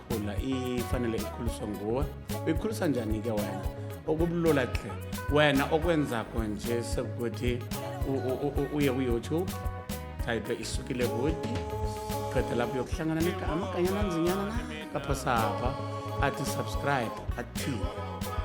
khula ifanele ikhuliswe nguwe uyikhulisa njani ke wena okubulula tle wena okwenzakho nje sekuthi uye kuyoutube type isukile kuthi qeda lapho yokuhlangana negama kanyana nzinyana na kaphosapha athi subscribe athi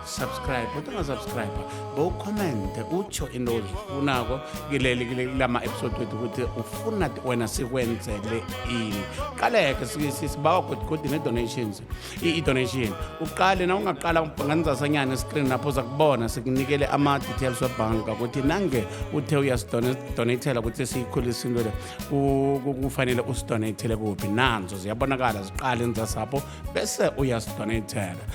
subscribe kodwa ungasubscribe bowukhomente utsho into ozifunako kileli kilama-episode wethu ukuthi ufuna wena sikwenzele ini qaleke sibawa godigodi ne-donations i-donation uqale na ungaqala nganizasanyana escreen lapho uza kubona sikunikele ama-details webhanka ukuthi nange uthe uyasidonatela ukuthi siyikhulise into le kufanele usidonatele kuphi nanzo ziyabonakala ziqale nizasapho bese uyasuka netheka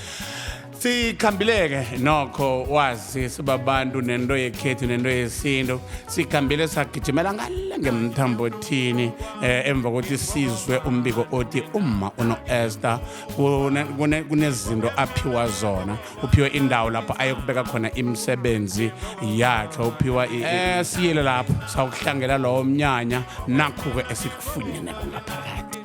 sikhambileke nokho wazi sibabantu nento yekhethu nento yesintu sikhambile sagijimela ngale ngemthambothini eh, emva kokuthi sizwe umbiko othi umma uno-ester kunezinto aphiwa zona uphiwe indawo lapho ayokubeka khona imisebenzi yakhe uphiwa eh, siyele lapho sawukuhlangela lowo mnyanya nakhu-ke esikufunyeneko ngaphakathi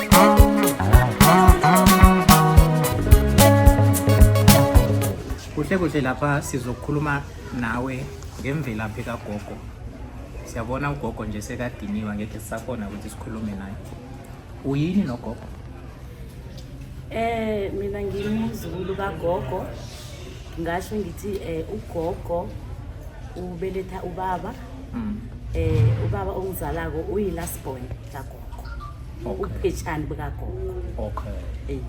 kuhle kuhle lapha sizokhuluma nawe ngemvelaphi kagogo siyabona ugogo nje sekadiniwa ngekhe sisakhona ukuthi sikhulume naye uyini nogogo Eh mina ngimzulu kagogo ngasho ngithi eh ugogo ubeletha ubaba mm. eh ubaba ongizalako uyi last born kagogo Okay. upheshani bukagogo okay Eh,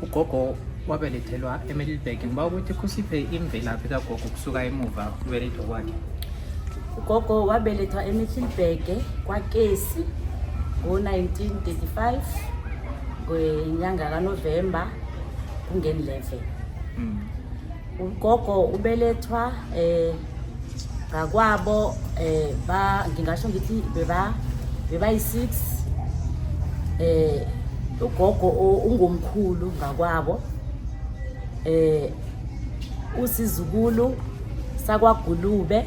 ugogo wabelethelwa emiddleburg ngiba ukuthi kusiphe imvelaphi kagogo kusuka emuva kubelethwa kwakhe ugogo wabelethwa emiddleburg kwakesi ngo-1935 ngenyanga kanovemba kungeni 11 Mm. ugogo ubelethwa eh ngakwabo eh ba ngingasho ngithi beba beba yi-6 eh ugogo ungomkhulu ngakwabo eh usizukulu sakwagulube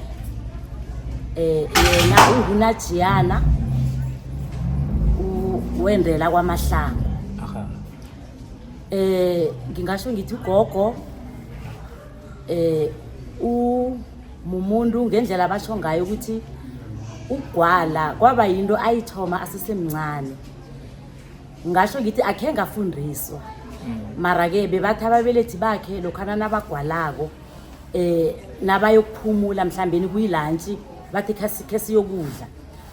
eh yena ungunajiyana wendela kwamahlanga eh ngingasho ngithi ugogo eh umumuntu ngendlela abasho ngayo ukuthi ugwala kwaba yinto ayithoma asesemncane ngasho ngithi akhe ngafundiswa mm. mara-ke bebathi ababelethi bakhe lokhana nabagwalako um nabayokuphumula mhlawumbeni kuyilantshi bathi khe siyokudla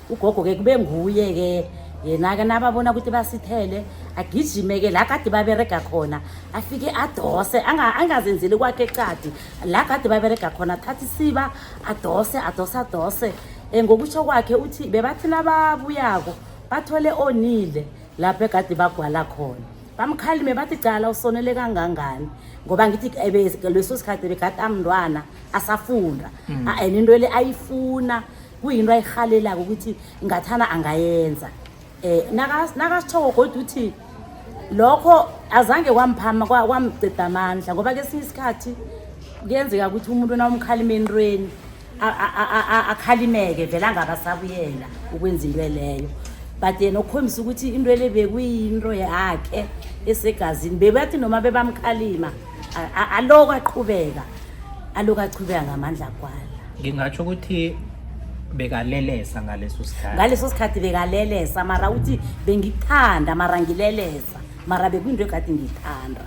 ugogo-ke kube nguye-ke yena-ke nababona ukuthi basithele agijime-ke la kade baberega khona afike adose angazenzeli kwakhe ecadi la kade baberega khona athatha isiba adose adose adose um ngokutsho kwakhe uthi bebathi nababuyako bathole onile lapho egade bagwala khona bamkhalime bathi cala usonele kangangani ngoba ngithi eh, leso sikhathi bekade amntwana asafunda mm. and into le ayifuna kuyinto ayirhalelako ukuthi ngathana angayenza um nakasitshoko kodwa uthi lokho azange kwamphama kwamceda amandla ngoba kesinye isikhathi kuyenzeka ukuthi umuntu nawumkhalima entweni akhalimeke vele angabasabuyela ukwenza into eleyo but yena ukukhombisa ukuthi into ele bekuyinto yakhe esegazini bebathi noma bebamkhalima aloko aqhubeka aloko aqhubeka ngamandla kwalo ngingatsho ukuthi bekalelesa ngaleso sikhathi ngaleso sikhathi bekalelesa mara uthi bengithanda mara ngilelesa mara bekuyinto egade ngiyithanda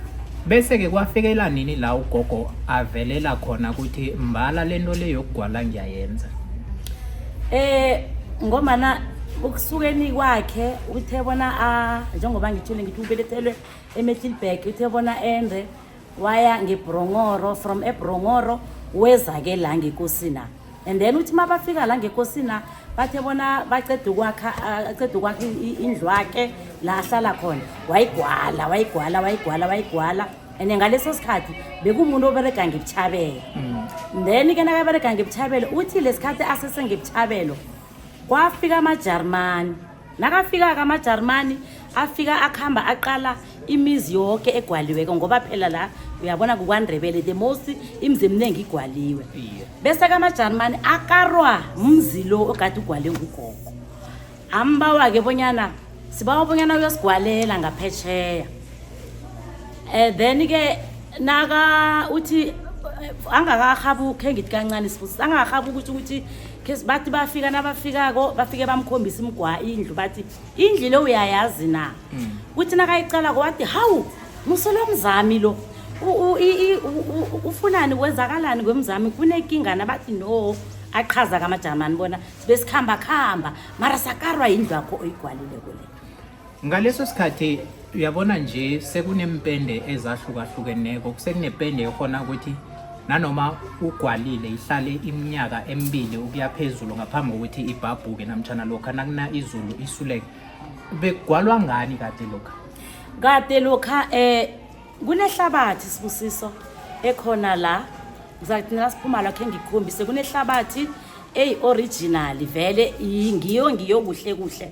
bese-ke kwafikela nini la ugogo avelela khona ukuthi mbala le nto le yokugwala ngiyayenza eh ngomana ukusukeni kwakhe uthe bona a njengoba ngithule ngithi ubelethelwe emetlilbag uthe bona ende waya ngebhrongoro from ebhrongoro weza-ke la ngekosina and then uthi uma bafika la ngekosina bathe bona baceda ukwakha uh, aceda ukwakha indlu wakhe la ahlala khona wayigwala wayigwala wayigwala wayigwala and ngaleso sikhathi bekumuntu oberega ngebuchabelo mm. then ke nakaberega ngebuchabelo uthi lesikhathi asesengebuchabelo kwafika amajarmani nakafika-ke amajarimani afika akuhamba aqala imizi yoke egwaliweko ngoba phela la uyabona kukwandrebele the most imizi eminingi igwaliwe bese kamajarimani akarwa mzi lo ogade ugwale ngugogo ambawa-ke bonyana sibawa bonyana uyosigwalela ngaphetsheya um eh, then-ke naka uthi angakarhabuki engithi kancane sifusi angakarhabuki ukuthi ukuthi khes bathi bafika nabafikako bafike bamkhombisa imgwa indlu bathi indlu le uyayazi na mm. kuthi nakayiqalako wathi hawu musolo mzami lo ufunani kwenzakalani kwemzami kunekingana bathi no aqhaza kamajamani bona besikhambakhamba mara sakarwa yindlu yakho oyigwalile kule ngaleso sikhathi uyabona nje sekuneempende ezahlukahlukeneko sekunepende ekhona ukuthi nanoma ugwalile ihlale iminyaka emibili ukuya phezulu ngaphambi kokuthi ibhabhuke namtshana lokha nakuna izulu isuleke begwalwa ngani kade lokha kade lokha um kunehlabathi sibusiso ekhona la ngizakuthi nasiphuma lakhe ngikhombise kunehlabathi eyi-originali vele ngiyo ngiyo kuhle kuhle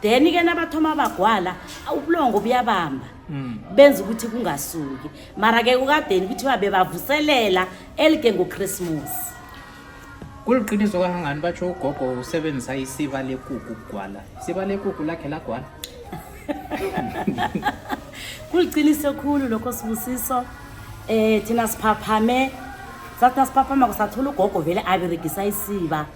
then ke nabathoma bagwala ubulongo buyabamba mm. benza ukuthi kungasuki mara ke kukadeni kuthiwa bebavuselela elike ngochristmas kuliqiniso kangangani batsho ugogo usebenzisa isiba lekuku kugwala isiba lekuku lakhe lagwala kuliqiniso khulu lokho sibusiso um eh, thina siphaphame sathi nasiphaphama kusathola ugogo vele aberegisa isiba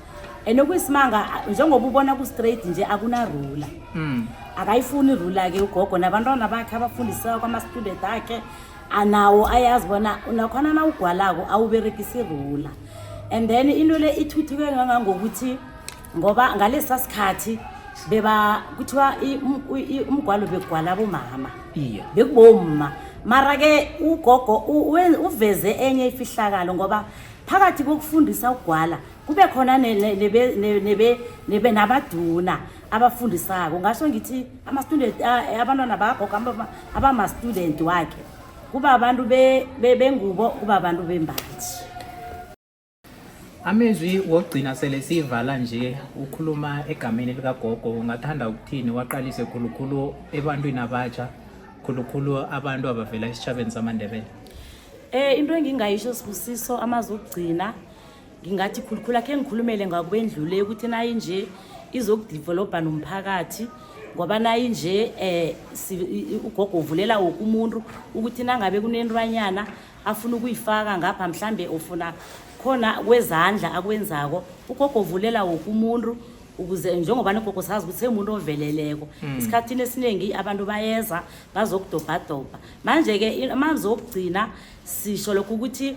and okuyisimanga njengoba ubona ku-straight nje akunarula mm. akayifuni irula-ke ugogo nabantwana bakhe abafundiseka kwama-student akhe anawo ayazi bona nakhona nawugwalako awuberekisi irula and then into le ithuthuke ngangangokuthi ngoba ngalesa sikhathi beba kuthiwa umgwalo begwala bomama iye bekubomma mara ke ugogo uveze enye ifihlakalo ngoba phakathi kokufundisa ukugwala kube khona nabaduna abafundisako ngasho ngithi ama-student abantwana bakagogo abama-student wakhe kuba abantu bengubo kuba abantu bembathi amezwi wokugcina sele siyivala nje ukhuluma egameni likagogo ungathanda ukuthini waqalise khulukhulu ebantwini abatsha khulukhulu abantu abavela esitshabeni samandebele um into engingayisho sibusiso amazwi okugcina ngingathi khulukhulu akhe ngikhulumele ngakwendlule ukuthi nayi nje izokudevelobha nomphakathi ngoba nayi nje um ugogo uvulela woke umuntu ukuthi nangabe kunentwanyana afuna ukuyifaka ngapha mhlambe ufuna khona kwezandla akwenzako ugogo uvulela woke umuntu ukuze njengoba nogogo sazi ukuthi semuntu oveleleko hmm. esikhathini esiningi abantu bayeza bazokudobhadobha manje-ke amanzi okugcina sisho lokho ukuthi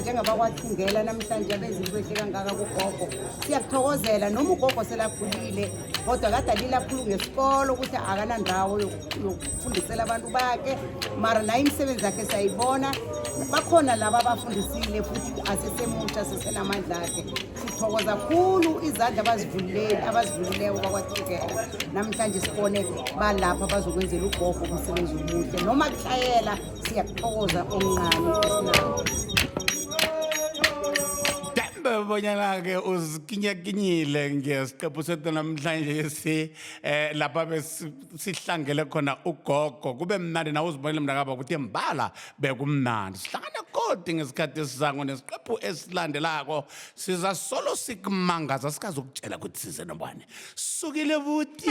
njengoba kwathungela namhlanje abenzi kwehle kangaka kugogo siyakuthokozela noma ugogo selakhulile kodwa kade alile akhulu ngesikolo ukuthi akanandawo yokufundisela abantu bakhe mara naye imisebenzi yakhe siyayibona bakhona laba abafundisile futhi asesemutsha sesenamandla akhe sithokoza khulu izandla abazivulileli abazivulileko bakwathukela namhlanje sibone balapha bazokwenzela ugogo umsebenzi omuhle noma kuhlayela Siyakuthokoza omncane esinawo. Dembe bonyana ke uzikinyakinyile ngesiqephu sethu namhlanje si eh lapha besi- sihlangele khona ugogo kube mnandi nawe uzibonile mntakaba ukuthi mbala bekumnandi sihlangane kodi ngesikhathi esizango nesiqephu esilandelako siza solo sikumangaza sikazokutshela ukuthi size nobani sukile buti